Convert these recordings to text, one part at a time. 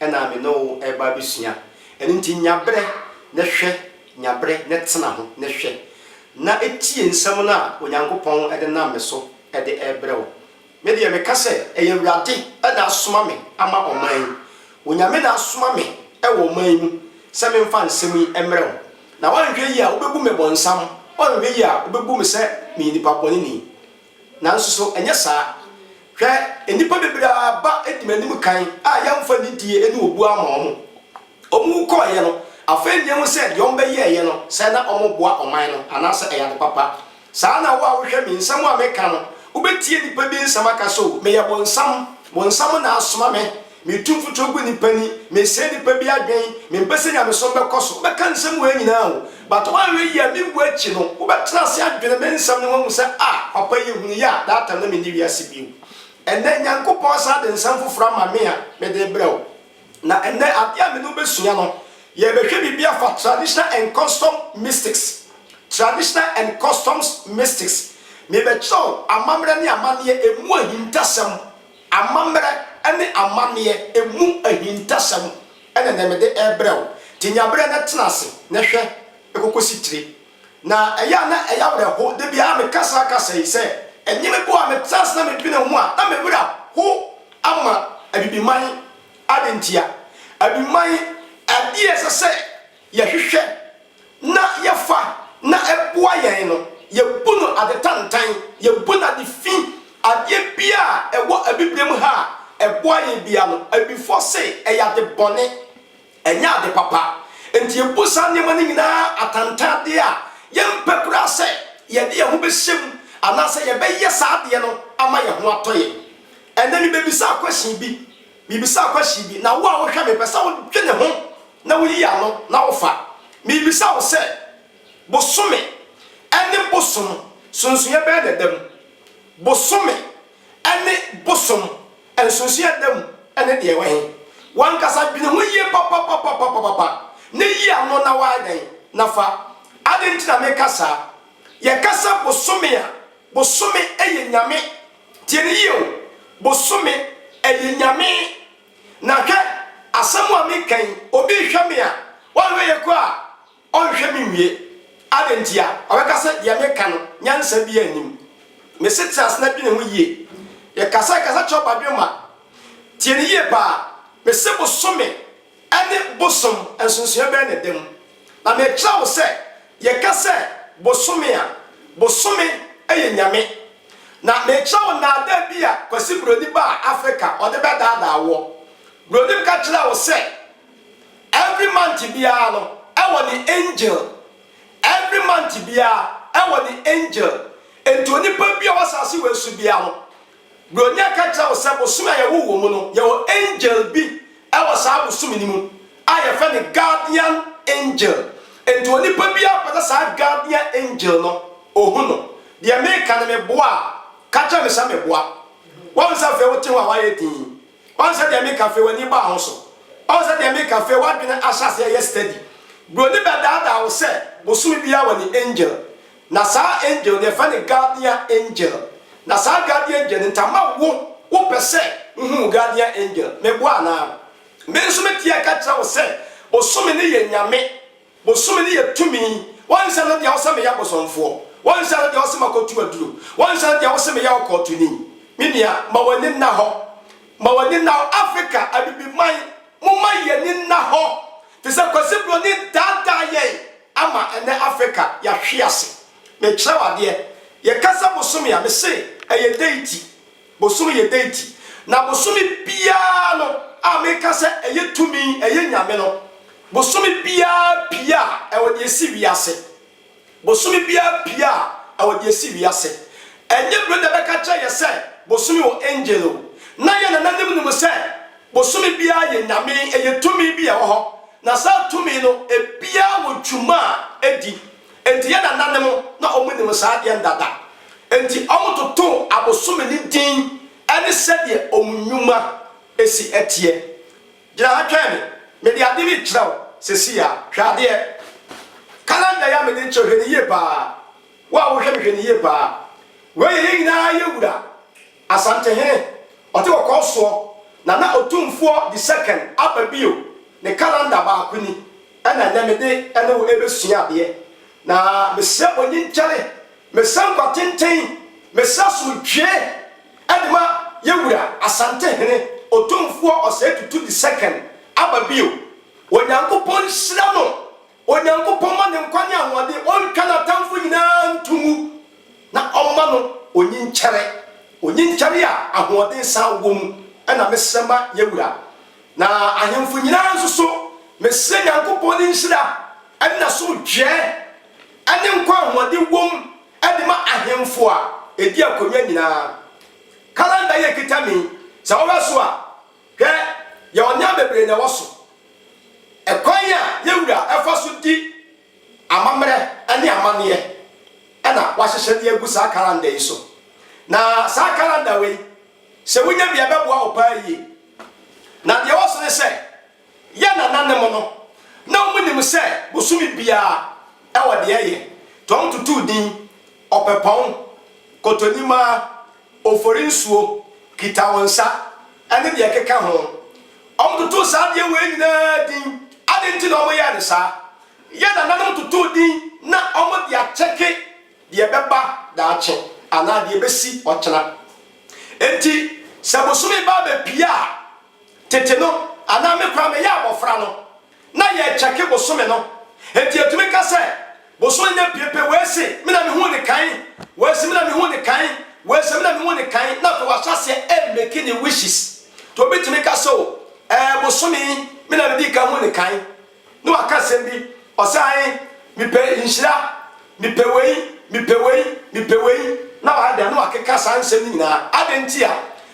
na me ne wo reba abɛsua. Ɛno nti, nya berɛ na hwɛ, nya berɛ na tena ho na hwɛ, na tie nsɛm no a Onyankopɔn de nam me so de rebrɛ wo. Me deɛ, meka sɛ, ɛyɛ Awurade na asoma me ama ɔman yi. Onyame na asoma me wɔ ɔman yi mu sɛ memfa nsɛm yi mmrɛ wo. Na woanhwɛ yie a, wobɛbu me bɔnsam, woanhwɛ yie a, wobɛbu me sɛ meyɛ nipa bɔneni. Nanso so ɛnyɛ saa? Hwɛ, nnipa bebree aba di m'anim kan a yɛamfa nidie ne obuo amma wɔn. Wɔwu kɔeɛ no, afei nnyɛ hu sɛ deɛ wɔbɛyɛeɛ no, sɛ na wɔreboa ɔman no, anaasɛ ɛyɛ ade papa. Saa ara na wo a wohwɛ me, nsɛm a meka no, wobɛtie nnipa bi nsɛm aka sɛ, 'O, meyɛ bonsam, bonsam na asoma me. Metu mfuturo gu nnipa ni, mesɛe nnipa bi adwen, mempɛ sɛ nyamesom bɛkɔ so. Wobɛka nsɛm wei nyinaa o, but woanhwɛ yie a mewu akyi no, wobɛtena ase adwene me nsɛm no ho ahu sɛ ah, papa yi hunu yɛ a, that time na menni wiase bio. Ɛnnɛ, Nyankopɔn asan de nsɛm foforɔ ama me a mede rebrɛ wo. Na ɛnnɛ, adeɛ a me ne wo bɛsua no, yɛrebɛhwɛ biribi afa Traditional and Custom Mystics, Traditional and Customs Mystics. Merebɛkyerɛ wo amammerɛ ne amanneɛ, ɛmu ahintasɛm. Amammerɛ ne amanneɛ ɛmu ahintasɛm na nɛ mede rebrɛ wo, te nyaberɛ na tena ase na hwɛ ɛkɔkɔsi tire. Na ɛyɛ a na ɛyɛ awerɛho da biara meka saa kasa yi sɛ ɛnye me boa a metena ase na medwene ho a na me werɛ ho ama Abibiman. Adɛn ntia? Abibiman, adeɛ a ɛsɛ sɛ yɛhwehwɛ na yɛfa na ɛboa yɛn no, yɛbu no ade tantan, yɛbu no ade fi, adeɛ biara a ɛwɔ Abibirem ha a ɛboa yɛn biara no, Abibifoɔ se ɛyɛ ade bɔne, ɛnyɛ ade papa. Enti yɛbu saa nneɛma no nyinaa atantan adeɛ a yɛmpɛ koraa sɛ yɛde yɛn ho bɛhyɛ mu anaasɛ yɛbɛyɛ saa adeɛ no ama yɛn ho atɔ yɛn. Ɛnnɛ mebɛbisaa question bi, mebisaa question bi, na wo a wohwɛ me, mepɛ sɛ wodwene ho na woyi ano na wofa. Mebisa wo sɛ, bosome ne bosom sonsonoeɛ bɛn na ɛda mu? Bosome ne bosom nsonsonoeɛ a ɛda mu ne deɛ ɛwɔ he? W'ankasa dwene ho yie papapapapapapa na yi ano na woayɛ dɛn? Na fa. Adɛn nti na meka saa? Yɛka sɛ bosome a, bosome yɛ nyame. Tie no yie o, bosome yɛ nyame. Na hwɛ, asɛm a meka yi, obi rehwɛ me a, ɔyɛ me yɔnko a ɔnhwɛ me nwie. Adɛn ntia? Ɔbɛka sɛ deɛ meka no, nyansa biara nnim. Mese tena ase na dwene ho yie. Yɛkasa kasa kyerɛ ɔbadwemma. Tie no yie paa. Mese bosome ne bosom, nsonsonoeɛ bɛn na ɛda mu? Na merekyerɛ wo sɛ yɛka sɛ bosome a, bosome yɛ nyame. Na merekyerɛ wo nnaadaa bi a Kwasi Buroni baa Africa ɔde bɛdaadaa woɔ. Buroni ka kyerɛɛ wo sɛ every month biara no ɛwɔ ne angel, every month biara ɛwɔ ne angel. Enti onipa bi a ɔwɔ asase wei so biara no, Buronya ka kyerɛ wo sɛ bosome a yɛwoo wɔ mu no, yɛwɔ angel bi wɔ saa bosome no mu a yɛfrɛ no guardian angel. Nti onipa biara ɔpɛ sɛ saa guardian angel no ɔhu no, deɛ meka no meboa a, ka kyerɛ me sɛ meboa. Woahu sɛ afei wote ho a woayɛ dinn. Woahu sɛ deɛ meka afei w'ani baa ho so. Woahu sɛ deɛ meka afei w'adwene ahyɛ aseɛ yɛ steady. Buroni bɛdaadaa wo sɛ bosome biara wɔ ne angel. Na saa angel no yɛfrɛ no guardian angel na saa guardian angel no nti ama wo wo pɛ sɛ wo hu wo guardian angel me boa anaa? Me nso me teɛ ka kyerɛ wo sɛ bosome no yɛ nyame bosome no yɛ tumi wɔnhyɛ no deɛ wo sɛ me yɛ abosomfoɔ wɔnhyɛ no deɛ wo sɛ ma kɔ tu aduro wɔnhyɛ no deɛ wo sɛ me yɛ ɔkɔɔtoni me nua ma w'ani nna hɔ ma w'ani nna hɔ Africa abibiman mo ma yɛni nna hɔ Te sɛ Kwasi Broni daadaa yɛn ama ɛnnɛ Africa yɛahwe ase. Mekyerɛ wo adeɛ, yɛkasa bosome a, mese ɛyɛ deity, bosome yɛ deity. Na bosome biara no a meka sɛ ɛyɛ tumi, ɛyɛ nyame no, bosome biara pie a ɛwɔ deɛ ɛsi wiase. Bosome biara pie a ɛwɔ deɛ ɛsi wiase. Ɛnyɛ bere na ɛbɛka kyerɛ yɛn sɛ bosome wɔ angel o. Na yɛn nananom nim sɛ bosome biara yɛ nyame, ɛyɛ tumi bi a ɛwɔ hɔ. Na saa tumi no ebiara wɔ dwuma a ɛdi. Enti yɛn nananom na wɔn nim saa adeɛ no dada. Enti wɔn totoo abosome no din ɛne sɛdeɛ wɔn nnwuma si teɛ. Gyina ha twɛn me. Mede ade rekyerɛ wo seesei ara. Hwɛ adeɛ. Calendar yi a mede rekyerɛ wo, hwɛ no yie pa ara. Wo a wohwɛ me, hwɛ no yie pa ara. Wei yɛ yɛn nyinaa yɛ wura, Asantehene. Ɔte wɔkɔɔ soɔ. Nana Otumfoɔ the second aba bio. Ne calendar baako ni. Ɛna ɛnnɛ mede ne wo rebɛsua adeɛ. Na mesrɛ mo nyi nkyɛre, mesrɛ nkwa tenten, mesrɛ asomdwoeɛ de ma yɛn wura Asantehene Otumfoɔ Osei Tutu the second aba bio. Onyankopɔn nhyira no, Onyankopɔn mma no nkwa ne ahoɔden, ɔntwa n'atamfo nyinaa nto mu, na ɔmma no onyi nkyɛre, onyi nkyɛre a ahoɔden san wɔ mu na mesrɛ ma yɛn wura. Na ahemfo nyinaa nso so, mesrɛ Nyankopɔn ne nhyira ne n'asomdwoeɛ ne nkwa a ahoɔden wom de ma ahemfo a ɛdi akonwa nyinaa. Calendar yi a ɛkita me yi, sɛ wohwɛ so a, hwɛ, yɛwɔ nneɛma bebree na ɛwɔ so. Ɛkwan a yɛn Wura fa so di amammerɛ ne amanneɛ na wahyehyɛ de agu saa calendar yi so. Na saa calendar wei, Sɛ wunya bi a, ɛbɛboa wo paa yiye. Na nea ɛwɔ so ne sɛ, yɛn nananom no, na wɔnim sɛ bosome biara wɔ deɛ ɛyɛ, nti wɔtotoo din, Ɔpɛpɔn, Kotonimaa, Oforinsuo, Kitawonsa, ne deɛ ɛkeka ho. Wɔtotoo saa adeɛ wei nyinaa din. Adɛn nti na wɔyɛɛ no saa? Yɛn nananom totoo din na wɔde akyɛke. deɛ ɛbɛba daakye anaa deɛ ɛbɛsi ɔkyena. Enti sɛ bosome ba abɛpue a, tete no, anaa me koraa meyɛ abɔfra no, na yɛkyɛke bosome no. Enti yɛtumi ka sɛ, Bosome nya pue pɛ, wei se, me na mehuu no kan, wei se, me na mehuu no kan, wei se, me na mehuu no kan, na afei wahyɛ aseɛ remake ne wishes. Nti obi tumi ka sɛ, O, ɛɛ, bosome yi, me na medii kan huu no kan. Na waka asɛm bi, ɔse, Ae, mepɛ nhyira, mepɛ wei, mepɛ wei, mepɛ wei, na wayɛ dɛn? Na wakeka saa nsɛm no nyinaa. Adɛn ntia?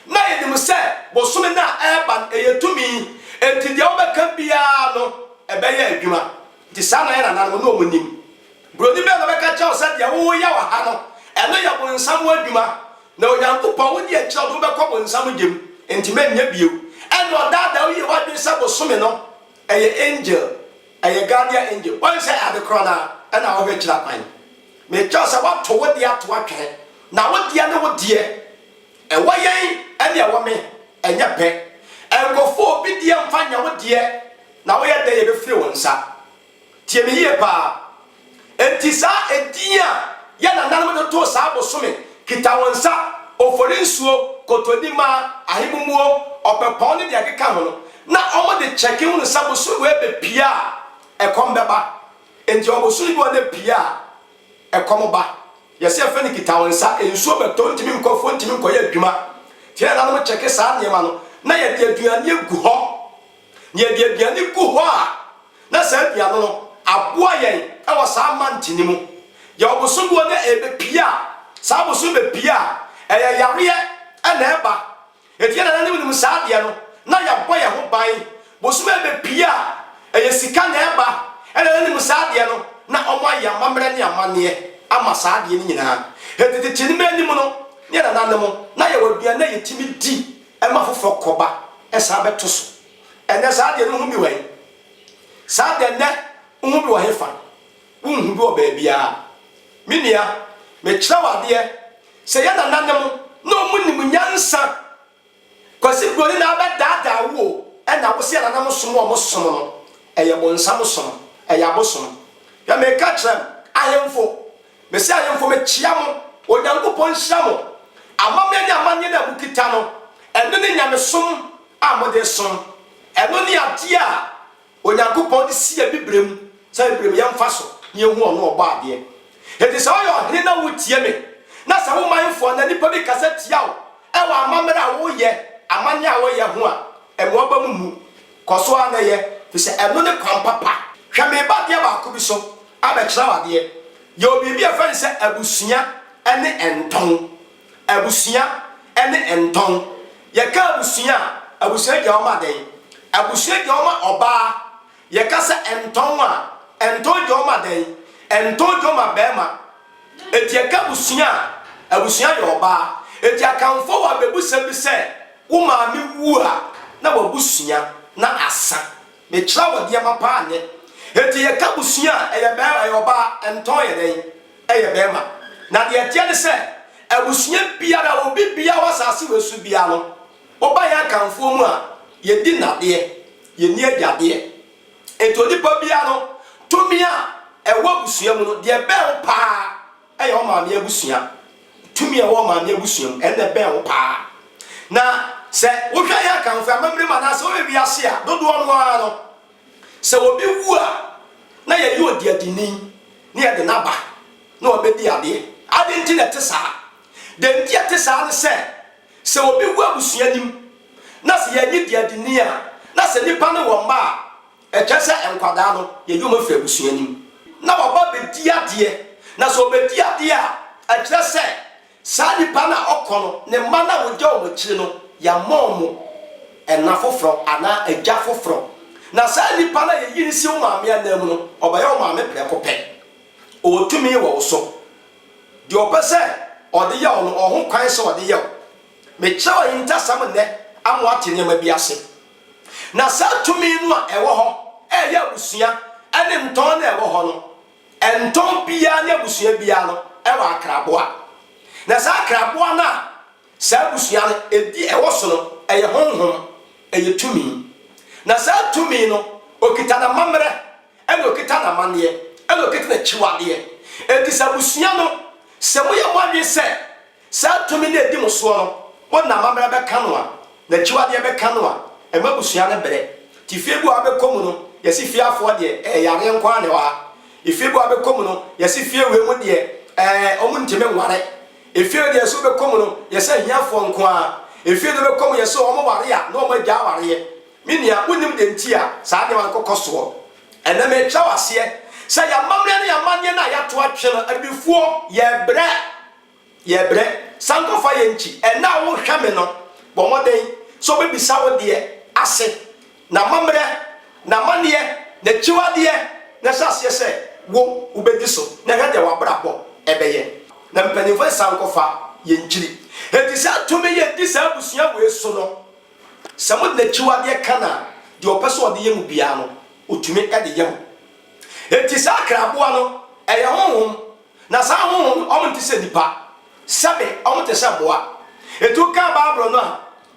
Na yɛnim sɛ bosome no a ɛreba no, ɛyɛ tumi, enti deɛ wobɛka biara no, ɛbɛyɛ adwuma. Nti saa na yɛn nananom, na wɔnim. Buroni bɛn na ɔbɛka akyerɛ wo sɛ deɛ woyɛ wɔ ha no, ɛno yɛ bonsam adwuma, na Onyankopɔn, wo deɛ kyerɛ wo de wobɛkɔ bonsam gya mu, enti mɛnyɛ bio. Ɛnna ɔdaadaa wo yie w'adwene sɛ bosome no Ɛyɛ angel, ɛyɛ guardian angel, wɔn sɛ adekorɔ no ara ɛna ɔhwɛ kyerɛ kwan. Mekyerɛ sɛ wɔato wo deɛ ato atwene, na wo deɛ ne wo deɛ. Ɛwɔ yɛn ɛne ɛwɔ me, ɛnyɛ pɛ. Nkɔfa obi deɛ mfa nyɛ wo deɛ, na woyɛ dɛn yɛbɛfiri wo nsa. Tie me yie paa. Enti saa edin a yɛn nananom de too saa bosome, Kitawonsa, Oforinsuo, Kotonima, Ahemumuo, Ɔpɛpɔn ne deɛ ɛkeka ho no, na wɔde kyɛke hunu sɛ bosome wei bɛpue a, ɛkɔm bɛba. Enti ɔbosome bi wɔ hɔ na ɛpue a, ɛkɔm ba. Yɛse yɛfrɛ no Kitawonsa. Nsuo bɛtɔ, wontumi nkɔ afuo, wontumi nkɔyɛ adwuma. Enti yɛn nananom kyɛke saa nneɛma no, na yɛde aduane agu hɔ. Na yɛde aduane gu hɔ a, na saa dua no no aboa yɛn wɔ saa month no mu. Yɛwɔ bosom bi hɔ na ɛbɛpie a, saa bosom no bɛpie a, ɛyɛ yareɛ na ɛba. Enti yɛn nananom nim saa adeɛ no, na yɛbɔ yɛn ho ban. Bosom a ɛbɛpie a, ɛyɛ sika na ɛba. Yɛn nananom nim saa adeɛ no, na wɔayɛ amammerɛ ne amanneɛ ama saa adeɛ no nyinaa. Enti tete no mu anim no, ne yɛn nananom, na yɛwɔ aduane a yɛtumi di ma foforɔ kɔba san bɛto so. Ɛnnɛ, saa deɛ no ho bi wɔ he? Saa deɛ nnɛ wo ho bi wɔ hefa? Wonhu bi wɔ baabiara. Me nua, mekyerɛ wo adeɛ sɛ yɛ nananom na ɔmo nim nyansa. Kwasi Broni na abɛdaadaa wo o, ɛna wo se yɛ nananom som a ɔmo som no, ɛyɛ bonsam som, ɛyɛ abosom. Hwɛ, meka kyerɛ m, ahemfo Mesia ayemfo mekyia mo, Onyankopɔn nhyira mo. Amammerɛ ne amanneɛne a mokita no, ɛno ne nyamesom a mode resom. Ɛno ne adeɛ a Onyankopɔn de si Abibirem sɛ Abibirem yɛ mfa so na yɛhu Ɔno a Ɔbɔɔ adeɛ. Enti sɛ woyɛ ɔhene na woretie me, na sɛ wo manfoɔ anaa nnipa bi kasa tia wo wɔ amammerɛ a woreyɛ, amanneɛ a woreyɛ ho a, mmoa aba mo mu. Kɔ so ara na yɛ, efisɛ ɛno ne kwan papa. Hwɛ me ba adeɛ baako bi so abɛkyerɛ wo adeɛ. Yɛwɔ biribi a yɛfrɛ no sɛ abusua ne ntɔn. Abusua ne ntɔn. Yɛka abusua a, abusua gya hɔ ma dɛn? Abusua gya hɔ ma ɔbaa. Yɛka sɛ ntɔn a, ntɔn gya hɔ ma dɛn? Ntɔn gya hɔ ma barima. Enti ɛka abusua a abusua yɛ ɔbaa. Enti Akanfoɔ wɔ abɛbusɛm bi sɛ, Wo maame wu a, na w'abusua na asa. Mekyerɛ wo nneɛma pa ara nnɛ. Enti yɛka abusua a, ɛyɛ bɛɛ, ɛyɛ ɔbaa, ɛntɔn yɛ dɛn? Ɛyɛ bɛɛma. Na deɛ ɛteɛ ne sɛ, abusua biara, obi biara wɔ asase wei so biara no, woba yɛn Akanfoɔ mu a, yɛdi nnadeɛ, yɛnni agyadeɛ, Enti onipa biara no tumi a ɛwɔ abusua mu no, deɛ ɛbɛn wo pa ara yɛ wo maame abusua. Tumi a ɛwɔ maame abusua mu, ɛno na ɛbɛn wo pa ara. Na sɛ wohwɛ yɛn Akanfoɔ amammerɛ mu anaasɛ wohwɛ wiase a, dodoɔ no ara no, sɛ obi wu a, na yɛyɛ odiadini na yɛde no aba na wabɛdi adeɛ. Adɛn nti na ɛte saa? Deɛ nti a ɛte saa ne sɛ, Sɛ obi wu abusua nim na sɛ yɛnye di adi ni a, na sɛ nipa no wɔ mma a, ɛkyerɛ sɛ nkwadaa no yɛyi wɔn firi abusua nim na wɔba abɛdi adeɛ. Na sɛ wɔbɛdi adeɛ a, ɛkyerɛ sɛ saa nipa no a ɔkɔ no, ne mma no a wɔgya wɔn akyire no, yɛama wɔn ɛna foforɔ anaa agya foforɔ. Na saa nipa no a yɛyi no si wo maame ananmu no, ɔbɛyɛ wo maame prɛko pɛ. Ɔwɔ tumi wɔ wo so. Deɛ ɔpɛ sɛ ɔde yɛ wo no, ɔwɔ ho kwan sɛ ɔde yɛ wo. Mekyerɛw ahintasɛm nnɛ ama woate nneɛma bi ase. Na saa tumi no a ɛwɔ hɔ reyɛ abusua ne ntɔn no a ɛwɔ hɔ no, ntɔn biara ne abusua biara no wɔ akraboa. Na saa akraboa no a. Saa abusua no, ɛdi ɛwɔ so no, ɛyɛ honhom, ɛyɛ tumi. Na saa tumi no, ɔkita n'amammerɛ, ɛna ɔkita n'amanneɛ, ɛna ɔkita n'akyiwadeɛ. Enti sɛ abusua no, sɛ moyɛ mo adwene sɛ saa tumi no ɛdi mo soɔ no, mode n'amammerɛ bɛka no a, n'akyiwadeɛ bɛka no a, ɛma abusua no brɛ. Nti fie bi wɔ ha wobɛkɔ mu no, yɛse fie afoɔ deɛ, ɛɛ yareɛ nko ara na ɛwɔ ha. Efie bi wɔ ha wobɛkɔ mu no, yɛse fie wei mu deɛ, ɛɛ wɔntumi nware. Efie no deɛ ɛso bɛkɔ mu no yɛ sɛ ahiafoɔ nko ara, efie no bɛkɔ mu yɛ sɛ wɔn ware a na wɔn agya awareɛ. Me nua, wonnim deɛ nti a saa nneɛma no kɔkɔ soɔ. Ɛnnɛ merekyerɛ wo aseɛ sɛ yɛn amammerɛ ne yɛn amanneɛ no a yɛato atwe no, abibifoɔ, yɛrebrɛ, yɛrebrɛ. San kɔfa yɛn nkyi. Ɛnnɛ a worehwɛ me no, bɔ mmɔden sɛ wobɛbisa wo deɛ ase. N'amammerɛ, n'amanneɛ, n'akyiwadeɛ, na hyɛ aseɛ sɛ wo, wobɛdi so, na hwɛ deɛ w'abrabɔ bɛyɛ. Na mpanimfoɔ nsan nkɔfa yɛn nkyiri. Enti saa tumi yi a ɛdi saa abusua wei so no, sɛ mode n'akyiwadeɛ ka no a, deɛ ɔpɛ sɛ ɔde yɛ mo biara no, ɔtumi de yɛ mo. Enti saa akraboa no, ɛyɛ honhom, na saa honhom no, wɔnte sɛ nnipa. Sɛbe, wɔte sɛ mmoa. Enti wokan Bible no a,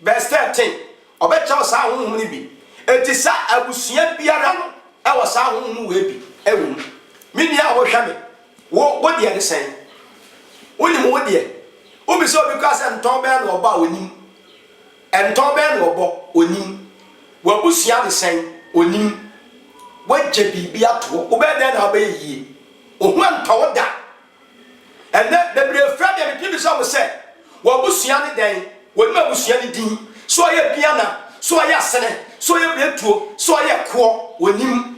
Vers. 13, Ɔbɛkyɛw saa honhom no bi. Enti sɛ abusua biara no wɔ saa honhom wei bi wɔ mu. Me nua a wohwɛ me, wo wo deɛ ne sɛn? Wonim wo deɛ? Wobisa obi koraa sɛ ntɔn bɛn na ɔbɔ a, ɔnnim. Ntɔn bɛn na ɔbɔ? Ɔnnim. W'abusua ne sɛn? Ɔnnim. Woagya biribi ato hɔ. Wobɛyɛ dɛn na wobɛyɛ yie? Ohu ntɔ wo da. Ɛnnɛ, bebree frɛ me a metumi bisa wɔn sɛ, W'abusua ne dɛn? Wɔnim abusua no din? So ɔyɛ Biana? So ɔyɛ Asene? So ɔyɛ Biretuo? So ɔyɛ Koɔ? Wɔnim.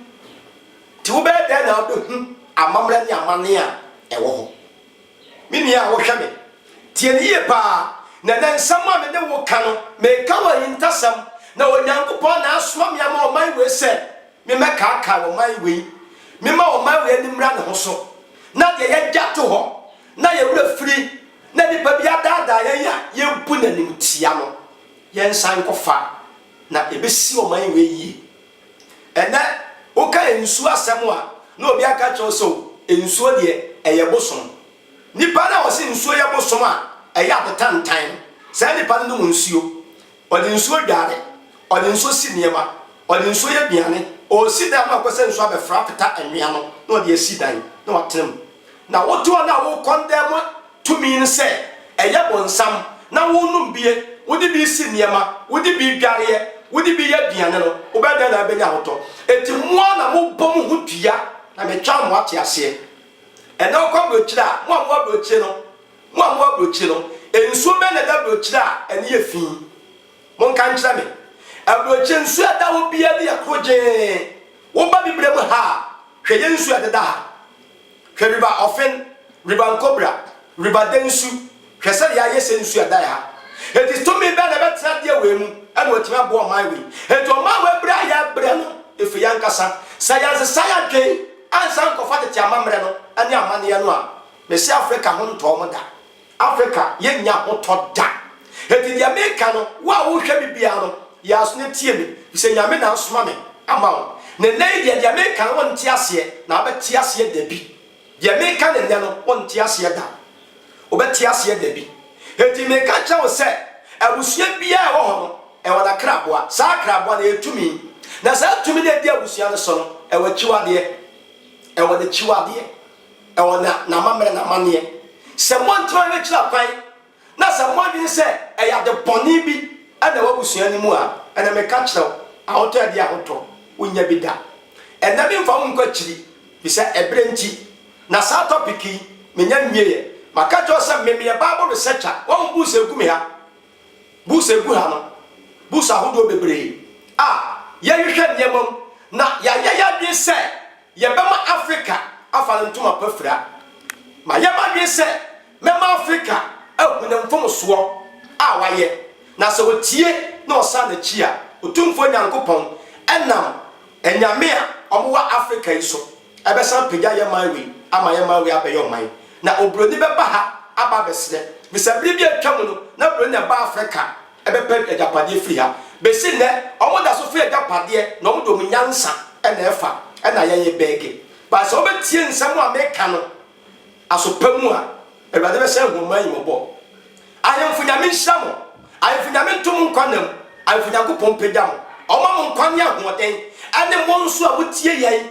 Enti wobɛyɛ dɛn na wobɛhu amammerɛ ne amanneɛ a ɛwɔ hɔ? Me nua a wohwɛ me, tie me yie paa, na ɛnnɛ nsɛm a me ne wo reka no, mereka wɔ ahintasɛm, na Onyankopɔn na asoma me ama ɔman wei sɛ, Memmɛkaakae ɔman wei. Memma ɔman wei ani mmra ne ho so, na deɛ yɛagya to hɔ, na yɛn werɛ firi, na nipa bi adaadaa yɛn a yɛbu no animtia no, yɛnsan nkɔfa, na ɛbɛsi ɔman wei yie. Ɛnnɛ, woka nsuo asɛm a, na obi aka akyerɛ wo sɛ, O, nsuo deɛ, ɛyɛ bosom. Nipa no a ɔse nsuo yɛ bosom a ɛyɛ adetantan no, saa nipa no nom nsuo. Ɔde nsuo dware, ɔde nsuo si nneɛma, ɔde nsuo yɛ aduane, ɔresi dan ma ɛkɔ sɛ nsuo abɛfra apeta anwea no na ɔde asi dan na watena mu. Na woto wɔn a wokɔndɛm mu tumi no sɛ ɛyɛ bonsam na wonom bie, wode bi si nneɛma, wode bi dwareɛ, wode bi yɛ aduane no, wobɛyɛ dɛn na wobɛnya ahotɔ? Enti mo ara na mobɔ mo ho dua na metwaa mo ateaseɛ. Ɛnnɛ wokɔ aburokyire a, mo a mowɔ aburokyire no, Mo a mowɔ aburokyire no, nsuo bɛn na ɛda aburokyire a ani yɛ fi? Monka nkyerɛ me. Aburokyire nsuo a ɛda hɔ biara no yɛ korogyee. Woba Bibire mu ha a, hwɛ yɛn nsuo a ɛdeda ha. Hwɛ River Ofen, River Nkobra, River Densu. Hwɛ sɛdeɛ ayɛ sɛ nsuo a ɛda yɛn ha. Enti tumi bɛn na ɛbɛtena adeɛ wei mu na watumi aboa ɔman wei? Enti ɔman wei brɛ a yɛbrɛ no, ɛfiri yɛn ankasa. Sɛ yɛansesa yɛn adwene ansa ankɔfa tete amammerɛ no ne amanneɛ no a, Mese Africa ho ntɔɔ mo da. Africa yɛ nnya ho tɔ da. Enti deɛ meka no, wo a wohwɛ me biara no, yɛ aso na tie me, firi sɛ Nyame na asoma me ama wo. Na nnɛ yi deɛ, deɛ meka no wonte aseɛ, na wobɛte aseɛ dabi. Deɛ meka no nnɛ no, wonte aseɛ da. Wobɛte aseɛ dabi. Enti meka kyerɛ wo sɛ, abusua biara a ɛwɔ hɔ no, ɛwɔ n'akraboa. Saa akraboa no, ɛyɛ tumi. Na saa tumi no a ɛdi abusua no so no, ɛwɔ akyiwadeɛ. Ɛwɔ n'akyiwadeɛ. Ɛwɔ na n'amammerɛ na amanneɛ. Sɛ moantumi ankyerɛ kwan na sɛ moadwene sɛ ɛyɛ ade bɔne bi na ɛwɔ abusua no mu a, ɛnna meka kyerɛ wo, ahotɔ adi ahotɔ, wonnya bi da. Ɛnnɛ memfa wo nkɔ akyiri, efisɛ ɛberɛ nti, na saa topic yi, mennya nwieɛ. Maka akyerɛ wo sɛ me meyɛ Bible researcher, woahu books a ɛgu me ha, books a ɛgu ha no, books ahodoɔ bebree a yɛhwehwɛ nneɛma mu na yɛayɛ yɛn adwene sɛ, Yɛbɛma Afrika afa ne ntoma pa fira. Mayɛ m'adwene sɛ mɛma Afrika ahu ne mfomsoɔ a wayɛ, na sɛ ɔtie na ɔsan n'akyi a, Otumfoɔ Nyankopɔn, ɛnam anyame a wɔwɔ Afrika yi so, ɛbɛsan apagya yɛn man wei ama yɛn man wei abɛyɛ ɔman, na oburoni bɛba ha aba abɛsrɛ, efisɛ bere bi a atwam no na buroni na ɛbaa Afrika. bɛpɛ agyapadeɛ firi ha. Bɛsi nnɛ, wɔda so frɛ agyapadeɛ na wɔde wɔn nyansa na ɛfa, ɛna yɛyɛ bɛɛge. But sɛ wobɛtie nsɛm a meka no aso pa mu a, Awurade bɛsan ahu ɔman yi mmɔbɔ. Ahemfo Nyame nhyira mo. Ahemfo Nyame nto mo nkwa nna mu. Ahemfo Nyankopɔn mpagya mo. Ɔmma mo nkwa ne ahoɔden, ɛne mo nso a motie yɛn